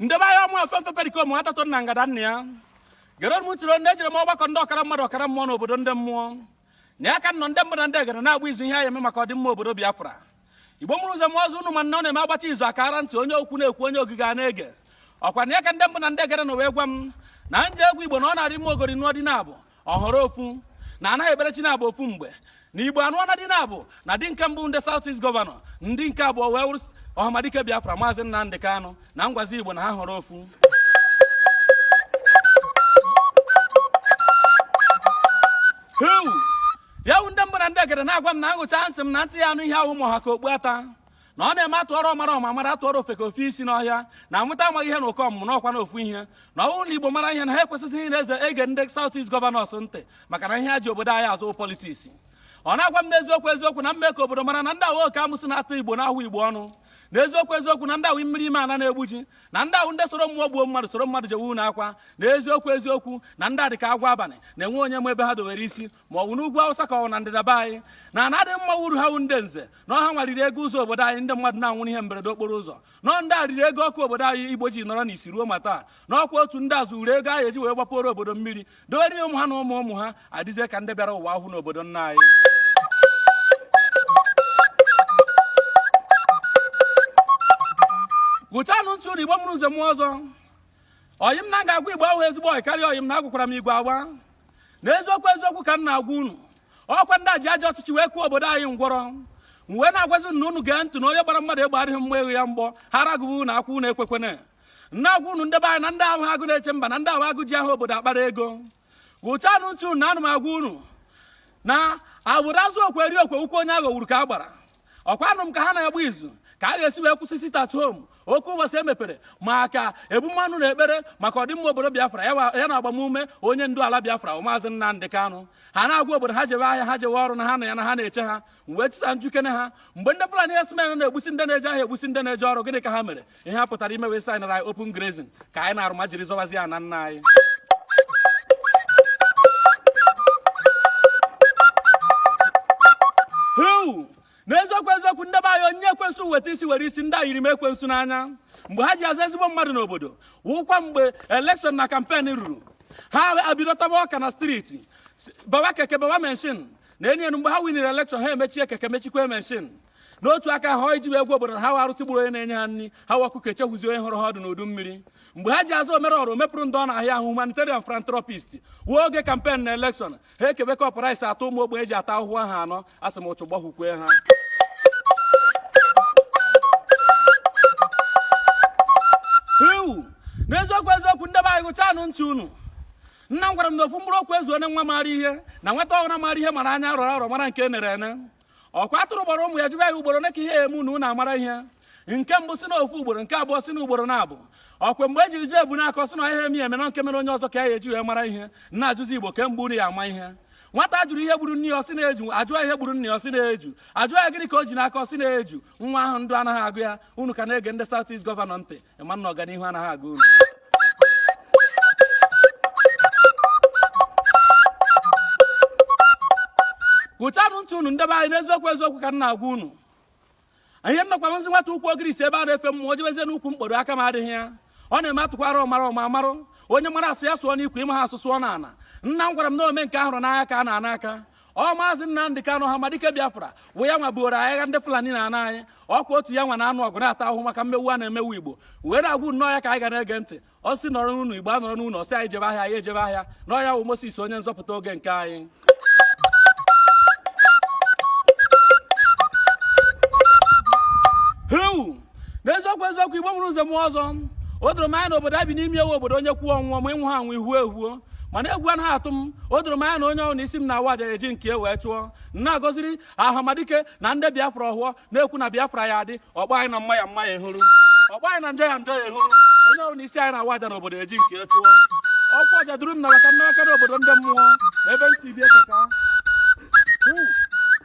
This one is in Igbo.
ndị be anyị ọ mụ efe mfe perikom atatụ na ngada nna ya gere m ntị na ejere m ọgbakọ ndị ọkara mmadụ ọkara mmụọ n'obodo ndị mmụọ na ya ka nọ ndị mbụ na ndị egede na-agba izu ihe a ya-eme maka ọdịmma obodo Biafra igbo mụrụ nze mụọ ọzọ unu ma na ọ na-eme agbacha izu akara ntị onye okwu na-ekwu onye ogige a na-ege ọkwa na ya ka ndị mbụ na ndị egede nọ wee gwa m na m jee gwa igbo na ọ na-arị mma ogori nụọ di naabọ ọ họrọ ofu na anaghị ekpere chi naabọ ofu mgbe na igbo anụọna di naabọ na di nke mbụ ndị South East gọvanọ di nke abụọ wee wụrụ ọhamadike Biafra maazị Nnamdi Kanu na m gwazi igbo na ha họrọ ofu ya wu ndị mbụ na ndị egede na-agwa m na aṅụcha ntị m na ntị ya-anụ ihe awụhọ ma ọ ha ka okpu ata na ọ na-eme atụọrọ ọmara ọ mara atụọrọ ofeke o fee isi n'ọhịa na nwata amaghị ihe na ụkọ ọmụmụ na ọkwa na ofu ihe na ọ wụ na igbo mara ihe na ha ekwesịghị ịna-eje ege ndị South East gọvanọs ntị maka na ihe ha ji obodo anyị azụ politiks ọ na-agwa m n'eziokwu eziokwu na m mee ka obodo mara na ndị a wụ oke amụsị na-atụ igbo na-ahụ igbo ọnụ na eziokwu eziokwu na ndị a wụ mmiri ime ala na-egbu ji na ndị a wụ ndị soro mmụọ gbuo mmadụ soro mmadụ jewe na akwa na eziokwu eziokwu na ndị a dịka agwọ abalị na enwe onye ma ebe ha dowere isi ma ọ bụ n'ugwu awụsa ka ọ wụ na ndịda be anyị na ana adị mma wụ uru ha wu ndị nze na ọ ha nwa riri ego ụzọ obodo anyị ndị mmadụ na-anwụrụ ihe mberede okporo ụzọ na ọ ndị a riri ego ọkụ obodo anyị igbo ji nọrọ n'isi ruo ma taa na ọkwa otu ndị a zuuru ego a ya-eji wee gbapụrụ obodo mmiri dowere ụmụ ha na ụmụ ụmụ ha adịzie ka ndị bịara ụwa ahụ n'obodo nna anyị ṅụchanụ ntị unu igbo mụrụ nze mụọ ọzọ ọyị m na ga-agwa igbo wụ ezigbo ọyị karịa ọyị m na agwakwara m igbo agwa na eziokwu eziokwu ka m na-agwa unu ọkwa ndị a ji ajọ ọchịchị wee kụọ obodo anyị ngwọrọ wee na-agwazi na unu gee ntị na onye gbara mmadụ egbe adịghị mma eghe ya mgbọ ha ragụbụ unu akwụ unu ekwekwana na-agwa unu ndị be anyị na ndị a awụhọ agụ na-eche mba na ndị a wụ agụ ji aha obodo akpara ego ṅụchanụ ntị unu na ana m agwa unu na agbụrụ azụ okwe eri okwe ukwu onye aghọgburu ka a gbara ọkwa anụ m ka ha na-agba izu ka a ga-esi wee kwụsị sit at home oke ụbọchị emepere maka ebumọnụ na ekpere maka ọdịmma obodo biafra ya na agbamume onye ndu ala biafra maazị nnamdị kanụ ha na-agwa obodo ha jewe ahịa ha jewe ọrụ na ha na ya na ha na-eche ha wee chisa m jụkene ha mgbe ndị fulani herdsmen na-egbusi ndị na-eje ahịa egbusi ndị na-eje ọrụ gịnị ka ha mere ihe ha pụtara ime wee saịnara open grazing ka anyị na almajiri zọwazi ana nna anyị Huu! n'eziokwu eziokwu ndị be anyị onye ekwensu weta isi were isi ndị a yiri m ekwensu n'anya mgbe ha ji aza ezigbo mmadụ n'obodo wụkwa mgbe elekshọn na kampen ruru ha abido taba ọka na striti bawa keke bawa menshin na enyi enu mgbe ha winere elekshọn ha emechie keke mechikwa menshin n'otu aka ahụ iji wee gwa obodo na ha wụ arụsị gburu onye na-enye ha nri ha wụ ọkụkọ echehuzi onye horo ha ọdụ n'udu mmiri mgbe ha ji aza omere ọra omepụrụ ndị ọ na-ahịa ahụ humanitarian philanthropist wụ oge kampen na elekshọn ha ekebe kọp rice atọ ụmụ ogbenye ji ata ahụhụ ha anọ asị m ụchụ gbahụkwe ha ewu n'eziokwu eziokwu ndị be anyị gụchanụ ntị unu nna m gwara m na ofu mkpụrụ okwu ezuoro nwa maara ihe na nwata ọhụrụ maara ihe mara anya rọrọ arọ mara nke e nere ene ọkwa atụrụ kpọrọ ụmụ ya jụba ya ugboro one ka ihe eme unu unu amara ihe nke mbụ sị na ofu ugboro nke abụọ sị na ugboro naabọ ọkwa mgbe e ji jụọ ebunu akọ ọ sị na ihe eme eme na nke mere onye ọzọ ka ya e eji wee mara ihe na-ajụzi igbo kee mgbe unu ya-ama ihe nwata a jụrụ ihe gburu nne ya ọ sị na eju a jụọ ihe gburu nne ya ọ sị na eju a jụọ ya gịnị ka o ji n'aka ọ sị na eju nwa ahụ ndụ anaghị agụ ya unu ka na-ege ndị South East gọvanọ ntị ị ma na ọganihu anaghị agụ unu gụchanụ ntị unu ndị be anyị n'eziokwu eziokwu ka m na-agwa unu ihe nnọkwa m zi nwata ukwu ogirisi ebe a na-efe mmụọ o jebezie n'ukwu mkpọdo aka m adịghị ya ọ na-eme atụkwara ọmara ọma amarụ onye mara asụ ya sụọ n'ikwe ị maha asụ sụọ n'ana nna m gwara m na ome nke a hụrụ n'anya ka a na-ana aka ọ maazị Nnamdị Kanụ Ọhamadike Biafra wụ ya nwa buoro agha ndị Fulani n'ana anyị ọkwa otu ya nwa na-anụ ọgụ na-ata ahụhụ maka mmewu a na-emewu Igbo wee na-agwa unu na ọ ya ka anyị ga na-ege ntị ọ sị nọrọ n'ụnọ Igbo anọrọ n'ụnọ ọ sị anyị jebe ahịa anyị ejebe ahịa na ọ ya wụ Moses onye nzọpụta oge nke anyị n'eziokwu eziokwu igbo mụrụ nze mụọ ọzọ o doro m anya na obodo e bi n'ime ya wụ obodo onye kwuo ọ nwụọ ma ị nwụha anwụ i huo ehuo mana egwu anaghị atụ m o doro m anya na onye ọhụrụ na isi m na-awa aja e ji nke ya wee chụọ na-agọziri Ọhamadike na ndị biafra ọhọ na-ekwu na biafra ya-adị ọgba anyị na mma ya mma ya ehuru ọgba anyị na njọ ya njọ ya ehuru onye ọhụrụ na isi anyị na-awa aja n'obodo e ji nke ya chụọ ọkwa aja duru m na maka nnawaka n'obodo ndị mmụọ na ebe ntị bi ekeka